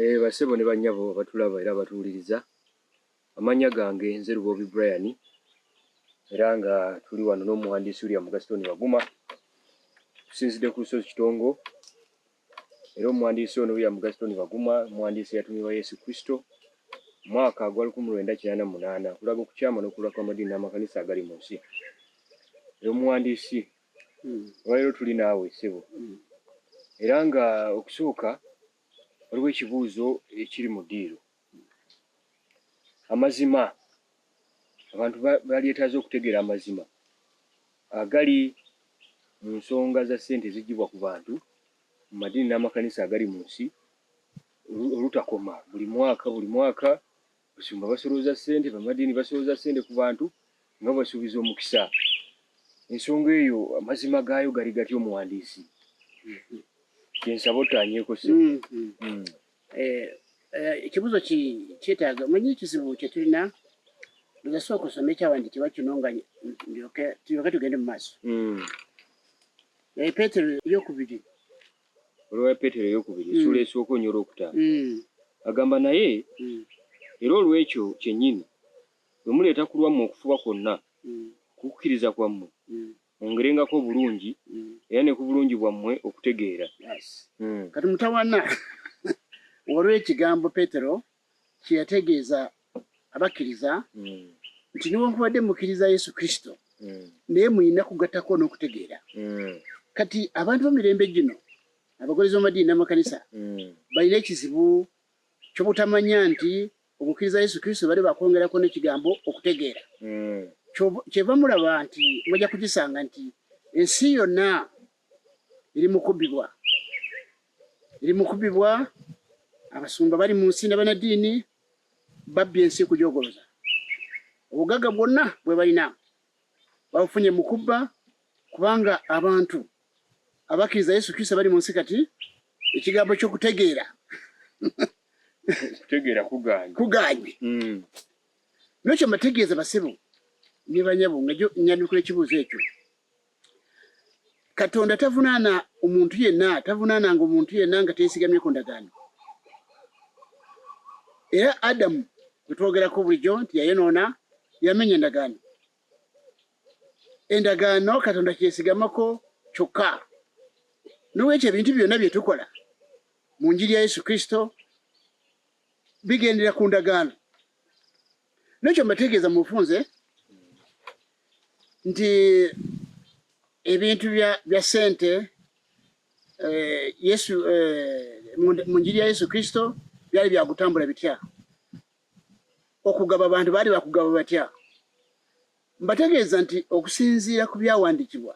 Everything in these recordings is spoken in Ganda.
Eeh basebo ne banyabo abatulaba era abatuwuliriza amannya gange nze Luboobi Brian era nga tuli wano n'omuwandiisi William Gaston Baguma tusinzidde ku lusozi Kitongo era omuwandiisi ono William Gaston Baguma muwandiisi eyatumibwa Yesu Kristo mwaka gwa lukumi lwenda kinaana mu munaana okulaga okukyama n'okulula kw'amadiini n'amakanisa agali mu nsi era omuwandiisi olwaleero tuli naawe ssebo era nga okusooka waliwo ekibuuzo ekiri mu diiro amazima abantu balyetaaze okutegeera amazima agali mu nsonga za ssente ezigibwa ku bantu mu madiini n'amakanisa agali mu nsi olutakoma buli mwaka buli mwaka Abasumba basolooza ssente, bannaddiini basolooza ssente ku bantu nga babasuubiza omukisa. Ensonga eyo amazima gaayo gali gatya omuwandiisi? Kye nsaba ottaanyeeko ssebo. Ekibuuzo ki kyetaaga omanyi ekizibu kye tulina nze sooka osome ekyawandiikibwa kino nga ndyoke tulyoke tugende mu maaso. Naye Peetero ey'okubiri olwa ya Peetero ey'okubiri essuula esooka onyo olw'okutaano agamba naye era olw'ekyo kyennyini bwe muleeta ku lwammwe okufuba kwonna ku kukkiriza kwammwe mwongerengako obulungi era ne ku bulungi bwammwe okutegeera. Kati mutawana olw'ekigambo Peetero kye yategeeza abakkiriza nti newankubadde mukkiriza Yesu Kristo naye mulina kugattako n'okutegeera. Kati abantu b'emirembe gino abagoberezi b'amadiini n'amakanisa balina ekizibu ky'obutamanya nti okukkiriza Yesu Kristo bali bakwongerako n'ekigambo okutegeera. Kyeva mulaba nti mujja kukisanga nti ensi yonna eri mukubibwa eri mukubibwa abasumba bali mu nsi nabanadiini babbye ensi kujogoloza obugagga bwonna bwe balina babufunye mu kubba kubanga abantu abakkiriza yesu kristo bali mu nsi kati ekigambo ky'okutegeera kutegeera kuganye kuganye mm. nokyo mbategeeza basebo ne banyabo nga nyanukula ekibuuzo ekyo Katonda tavunaana omuntu yenna, tavunaananga omuntu yenna nga teesigamye ku ndagaano. Era Adamu gwe twogerako bulijjo nti yayonoona, yamenya endagaano. Endagaano Katonda kyesigamako kyokka. N'olwekyo ebintu byonna bye tukola mu njiri ya Yesu Kristo bigendera ku ndagaano nekyo mbategeeza mu bufunze nti ebintu bya sente eh, yesu eh, mu njiri ya yesu kristo byali byakutambula bitya okugaba abantu baali bakugaba batya mbategeeza nti okusinziira ku byawandikibwa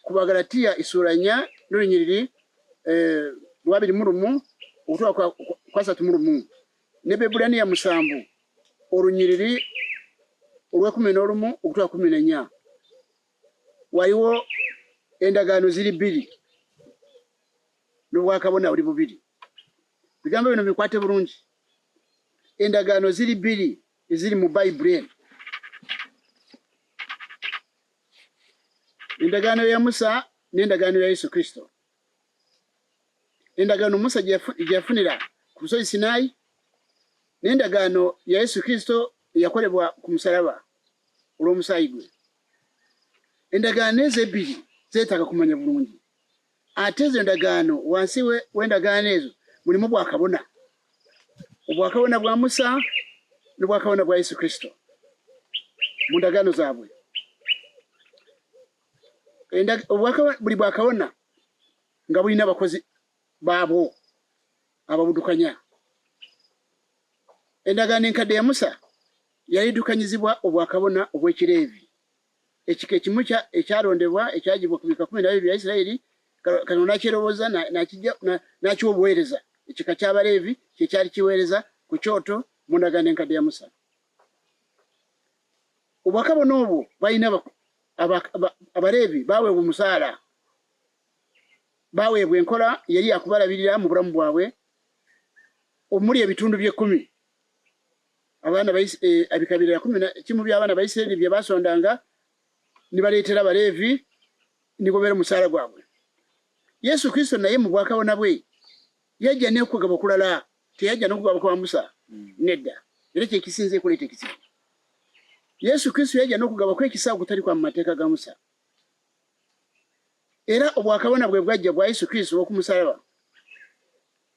ku Bagalatia isuula nya n'olunyiriri eh, lwabiri mu lumu okutuuka kwasatu mu lumu ne Bebulaniya musanvu olunyiriri olw'ekumi n'olumu okutuuka kumi n'enya waliwo endagaano ziri bbiri n'obwakabona buli bubiri bigambo bino bikwate bulungi endagaano ziri bbiri eziri mu bayibuli eno Endagaano ya Musa n'endagaano ya Yesu Kristo. Endagaano Musa gye yafunira ku lusozi Sinaayi n'endagaano ya Yesu Kristo eyakolebwa ku musalaba olw'omusaayi gwe. Endagaano ezo ebbiri zeetaaga kumanya bulungi Ate ezo endagaano, wansi w'endagaano ezo mulimu bwakabona, obwakabona bwa Musa ne bwakabona bwa Yesu Kristo mu ndagaano zaabwe. Buli bwakabona nga bulina abakozi baabwo ababudukanya. Endagaano enkadde ya Musa yalidukanyizibwa obwakabona obw'Ekireevi. Ekika ekimu kya ekyalondebwa ekyagibwa ku bika kumi na bibiri bya Isiraeri, Katonda n'akyeroboza n'akijja n'akiwa obuweereza. Ekika ky'Abaleevi kye kyali kiweereza ku kyoto mu ndagaano enkadde ya Musa. Obwakabona obwo balina Abaleevi baaweebwa omusaala, baaweebwa enkola yali yakubalabirira mu bulamu bwabwe omuli ebitundu by'ekkumi abaana baisi e, eh, abikabira ya kumi na kimu bya abaana baisiraeli bye basondanga ni baleetera abaleevi ni gobera omusaala gwabwe yesu kristo naye mu bwakabona bwe yajja nekugaba okulala teyajja nokugaba kwa musa hmm. nedda era kyekisinza ekuleeta ekizibu yesu kristo yajja nokugaba kwekisa okutali kwa mumateeka ga musa era obwakabona bwe bwajja bwa yesu kristo okumusalaba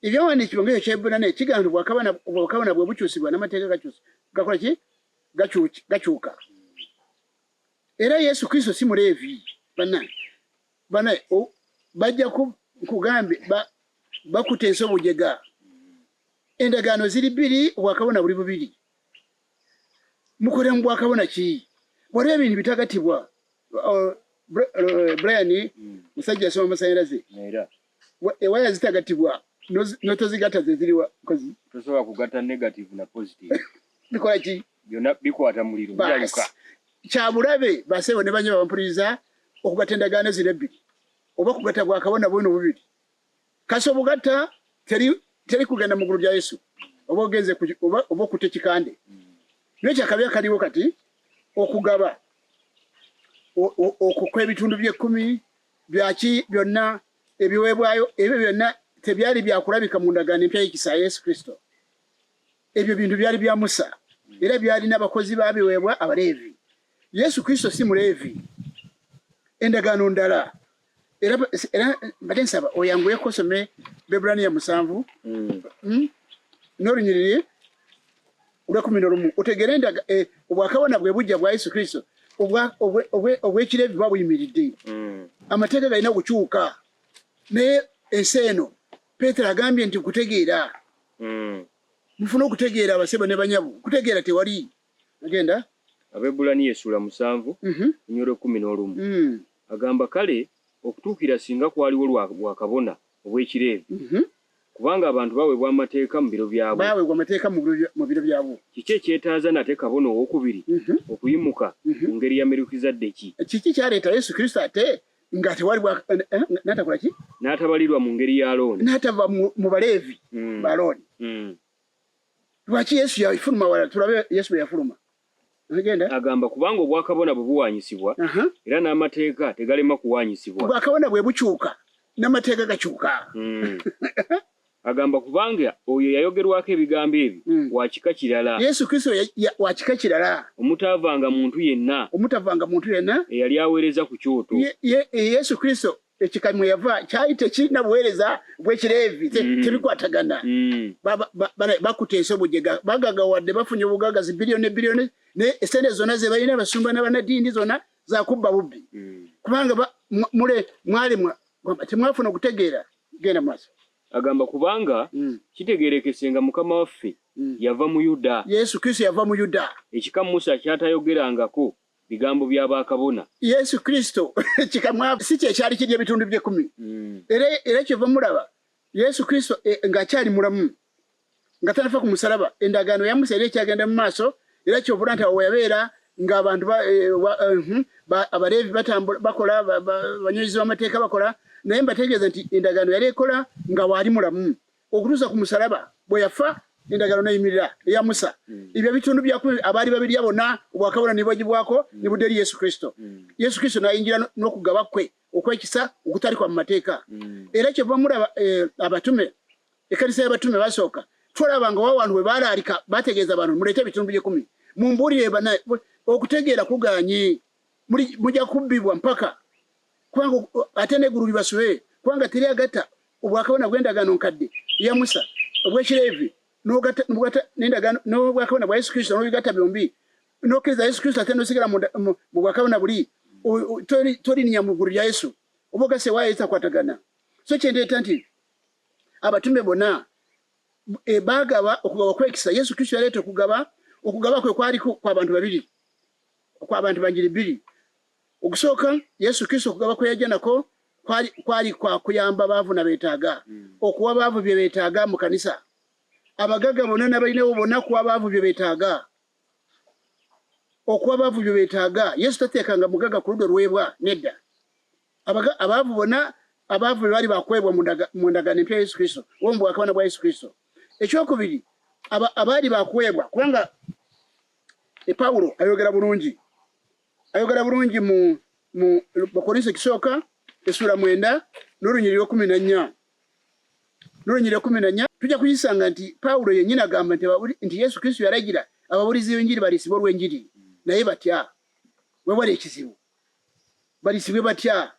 Ebyawandiikibwa nga Ekyebbulaniya kigamba nti obwakabona bwe bukyusibwa n'amateeka gakola ki? Gakyuka. Era Yesu Kristo si Muleevi. Bannange, banaye bajja kugambye bakuta ensi obujega. Endagaano ziri bbiri, obwakabona buli bubiri. Mukole mu bwakabona ki? Waliwo ebintu bitagatibwa. Oh, eh, Brian, mm. musajja asoma amasanyalaze. ewaya zitagatibwa notozigata zeziriwa kozi tosobola kugata negative na positive bikola ki byona bikwata muliro byaluka kyabulabe basebo ne banyaba mpuriza okugata endagaano zino ebbiri oba kugata gwa kabona bwino bubiri kasi obugata teri teri kugenda mu gulu lya yesu oba ogenze oba oba okute kikande naye kyakabi akaliwo kati okugaba okukwa ebitundu by'ekkumi Byaki byonna ebiweebwayo ebyo byonna tebyali byakulabika mu ndagaano empya y'ekisa ya Yesu Kristo. Ebyo bintu byali bya Musa era byalina abakozi babiweebwa Abaleevi. Yesu Kristo si Muleevi, endagaano ndala. Era mbadde nsaba oyanguyeko osome Bebbulaniya musanvu hmm. Hmm? n'olunyiriri olwekumi nolumu otegere nda eh, obwakabona bwe bujja bwa yesu kristo obwekirevi buba buyimiridde mm. amateeka galina okukyuka naye ensi eno petero agambye nti kutegeera mm. mufuna okutegeera abasebo ne banyabu kutegeera tewali agenda abebulaniya esula musanvu mhm. nyoro kumi nolumu mm. agamba kale okutuukira singa kwaliwo lwakabona obw'Ekileevi, kubanga abantu baweebwa amateeka mu biro byabwo. Baweebwa amateeka mu biro byabwo. Kiki ekyetaaza nate kabona ow'okubiri okuyimuka mu ngeri ya Merukizadeki? Kiki kyaleeta Yesu Kristo ate nga tewali bwa eh, n'atakola ki? N'atabalirwa mu ngeri ya Alooni. N'atava mu Baleevi ba Alooni. Lwaki Yesu yafuluma wala? Tulabe Yesu bwe yafuluma. agamba kubanga obwakabona bwe buwaanyisibwa era n'amateeka tegalema kuwaanyisibwa. Obwakabona bwe bukyuka n'amateeka gakyuka. Hmm. Agamba kubanga oyo yayogerwako ebigambo ebyo hmm. wa kika kirala. Yesu Kristo wa kika kirala. Omutaavanga muntu yenna. Omutaavanga muntu yenna. Eyali aweereza ku kyoto. Yesu Kristo ekika mwe yava kyali tekirina buweereza bw'ekireevi mm. tebikwatagana mm. bakuta ensobo gyega bagagawadde bafunye obugaga zi biliyoni ne biliyoni naye esente zonna ze balina abasumba n'abanadiini zonna zakubba bubbi mm. kubanga mule mwali temwafuna okutegeera genda maaso agamba kubanga kitegeerekese nga mukama waffe yava mu yuda yesu kristo yava mu yuda ekika musa kyatayogerangako bigambo bya bakabona. Yesu Kristo kika mwavu si kye kyali kirya ebitundu by'ekkumi. Era, era kyeva mulaba, Yesu Kristo e, nga akyali mulamu, nga tanafa ku musalaba, endagaano ya Musa era ekyagenda mu maaso, era kyovula nti awo weyabeera nga abantu ba, e, wa, uh, eh, hmm, ba, abaleevi batambula bakola ba, ba, banyozi b'amateeka bakola, naye mbategeeza nti endagaano yali ekola nga waali mulamu. okutuusa ku musalaba bwe yafa endagaano neyimirira eya musa mm. ebyo ebitundu byaku abaali babirya bona obwakabona nibwagibwako mm. nibudde eri yesu kristo mm. yesu kristo nayingira n'okugaba kwe okwekisa okutalikwa mu mateeka era kyeva mulaba eh, abatume ekanisa y'abatume basooka tulaba nga wawantu bwe balaalika bategeeza abantu muleete ebitundu byekumi mumbuulire bana okutegeera kuganyi mujja kubbibwa mpaka kubanga ate n'eggulu libasube, kubanga teri agatta obwakabona bw'endagaano nkadde ya Musa obw'Ekileevi n'obwakabona bwa Yesu Kristo n'obigatta byombi n'okkiriza Yesu Kristo ate n'osigala mu bwakabona buli tolinya mu ggulu lya Yesu oba ogase waayo etakwatagana so kyendeeta nti abatume bona e, baagaba okugaba kwekisa Yesu Kristo yaleeta okugaba okugaba kwe kwaliko kw'abantu babiri kw'abantu banjiri bbiri Okusooka, Yesu Kristo okugaba kwe yajja nako kwali, kwali kwa kuyamba baavu na beetaaga, okuwa baavu bye beetaaga mu kanisa. Abagagga bonna n'abalinawo bonna kuwa baavu bye beetaaga. Okuwa baavu bye beetaaga. Yesu tateekanga mugagga ku ludda oluweebwa, nedda. Abaga, abaavu bonna, abaavu be baali bakuweebwa mu ndaga, mu ndagaano empya ya Yesu Kristo, oba mu bwakabana bwa Yesu Kristo. Ekyokubiri, aba, abaali bakuweebwa, kubanga e Pawulo ayogera bulungi ayogera bulungi mu mu bakorinso ekisooka essuula mwenda n'olunyiri lwekumi na nnya n'olunyiri lwekumi na nnya tujja kuyisanga nti pawulo yennyini agamba nti nti yesu kristo yalagira ababulizi b'enjiri baliisibwe olw'enjiri naye batya wewali ekizibu baliisibwe batya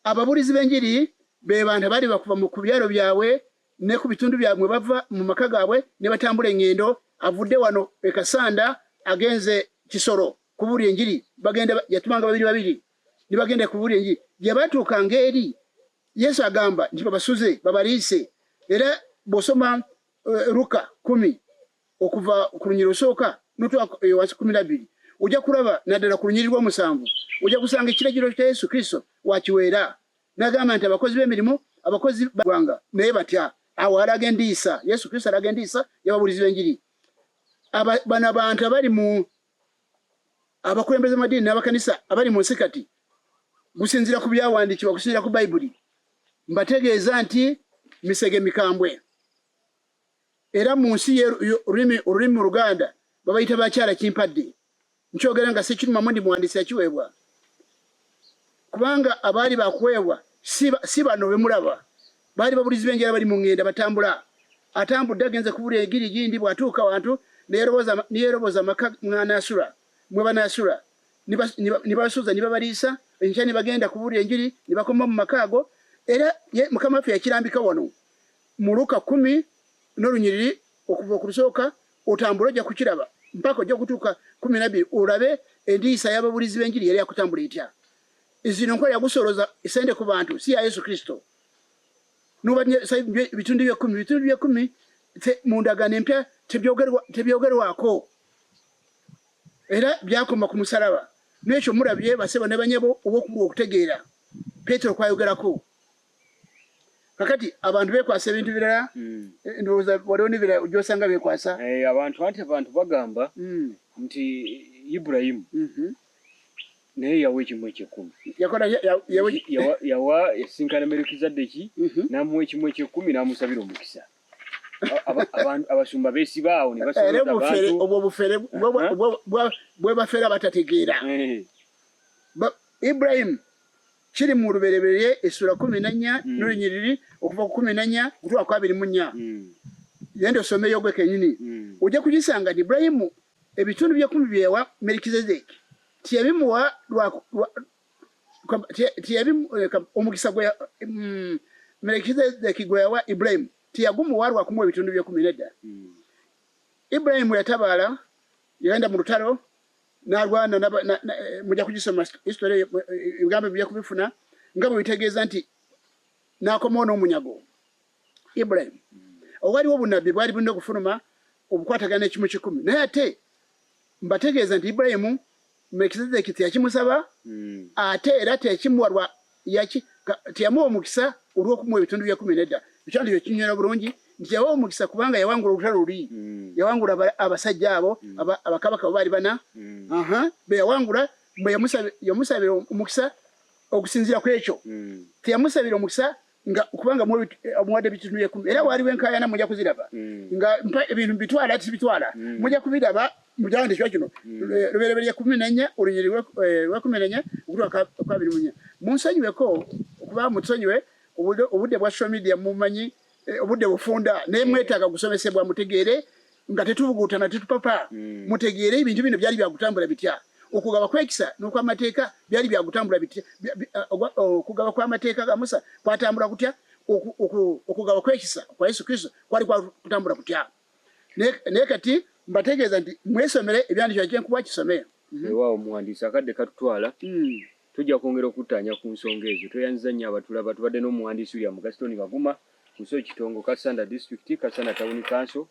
ababulizi b'enjiri be bantu abaali bakuva mu ku byalo byabwe ne ku bitundu bya mwe bava mu maka gaabwe ne batambula engendo avudde wano e Kasanda agenze Kisoro kubuulira enjiri bagenda yatumanga babiri babiri ne bagenda kubuulira enjiri gye batuuka ng'eri Yesu agamba nti babasuze babaliise era bw'osoma uh, Luka kumi okuva ku lunyiri osooka notwa eh, wansi kumi nabbiri ojja kulaba naddala ku lunyiri lw'omusanvu ojja kusanga ekiragiro kya Yesu Kristo wakiweera Nagamba nti abakozi b'emirimu abakozi bagwanga naye batya awo alaga endiisa Yesu Kristo alaga endiisa y'ababulizi b'enjiri bano abantu abali mu abakulembeze amadiini n'abakanisa abali mu nsi kati gusinzira ku byawandiikibwa kusinzira ku bayibuli mbategeeza nti misege mikambwe era mu nsi ye olulimi mu Luganda babayita bakyala kimpadde. Nkyogera nga sikirumamu ndi muwandiisi yakiweebwa, kubanga abaali bakuweebwa si bano bemulaba, baali babulizi b'enjala bali mu ngenda batambula. Atambudde agenze kubula egiri gindi, bw'atuuka wantu neyeroboza amaka mw'anaasula mwe banaasula nibasuza nibabaliisa enkya nibagenda kubulira enjiri nibakoma mu maka ago era mukama waffe yakirambika wano Mu Luka kumi n'olunyiriri okuva ku bisooka otambule ojja kukiraba mpaka ojja kutuuka kumi nabbiri olabe endiisa y'ababulizi b'enjiri yali yakutambula etya. Zino nkola yagusooloza sente ku bantu si ya Yesu Kristo. Nobadde bitundu by'ekkumi bitundu by'ekkumi mu ndagaano empya tebyogerwako era byakoma ku musalaba. N'ekyo mulabye basebo ne banyabo oba okubulwa okutegeera Petero kwayogerako. kakati abantu bekwasa ebintu birala mm. eh, ndowooza waliwo nebira gyosanga bekwasa eh, abantu anti abantu bagamba mm. nti iburahimu mhm. naye yawa ekimu ekyekumi yawa esinkana merekizaddeki mhm. namuwa ekimu ekyekumi namusabira omukisa abasumba besibaawo nebasbwo bufere bwebafera batategeera iburahimu Kiri mu Lubereberye essula kumi na nnya mm. n'olunyiriri okuva ku kumi na nnya okutuuka ku abiri mu nnya mm. yenda osomeyo gwe kenyini mm. ojja kugisanga nti Ibulayimu ebitundu by'ekkumi bye yawa Merikizedeki tiyabimuwa eh, omukisa gwe mm, Merikizedeki gwe yawa Ibulayimu tiyagumuwa lwakumu ebitundu by'ekkumi nedda Ibulayimu yatabaala yagenda mu lutalo nalwana muja kugisoma history eh, eh, ebigambo bija kubifuna nga bwe bitegeeza nti nakomawo n'omunyago ibrahim owaliwo obunabbi bwali bulina okufuluma obukwatagana ekimu kikumi naye ate mbategeeza nti ibrahimu mekizedeki teyakimusaba hmm. ate era teyakimuwa Yaki, ka, teyamuwa omukisa olw'okumuwa ebitundu bya kumi nedda. Ekyandi kyo kinyonyola bulungi nti yawa omukisa kubanga yawangula olutalo luli, mm. yawangula abasajja abo mm. abakabaka abo baali bana mm. aha be yawangula bwe yamusabira omukisa okusinziira ku ekyo mm. teyamusabira omukisa nga kubanga omuwadde ebitundu bya kumi era waaliwo enkaayana mujja kuziraba mm. nga ebintu bitwala tibitwala mm. mujja kubiraba mujahandi kiba kino lubereberye kumi nenye olunyiri lwekumi eh, nenye okutwaka kwabiri munye munsonyiweko okuba mutusonyiwe obudde bwa social media mumanyi eh, obudde bufunda naye mm. mwetaaga gusomesebwa mutegeere nga tetubugutana tetupapa mm. mutegeere ebintu bino byali byakutambula bitya okugaba kwekisa nokwamateeka byali byakutambula bitya eh, okugaba kwamateeka ga musa kwatambula kutya okugaba kwekisa kwa yesu kristo kwali kwakutambula kutya naye kati mbategeeza nti mwesomere ebyandikira kyenkuba kisome mhm. ewa omuwandiisi akadde katutwala hmm. tujja kwongera okuttaanya ku nsonga ezo tweyanziza nnyo abatulaba tubadde n'omuwandiisi william gaston baguma kuso kitongo kasanda district kasanda town council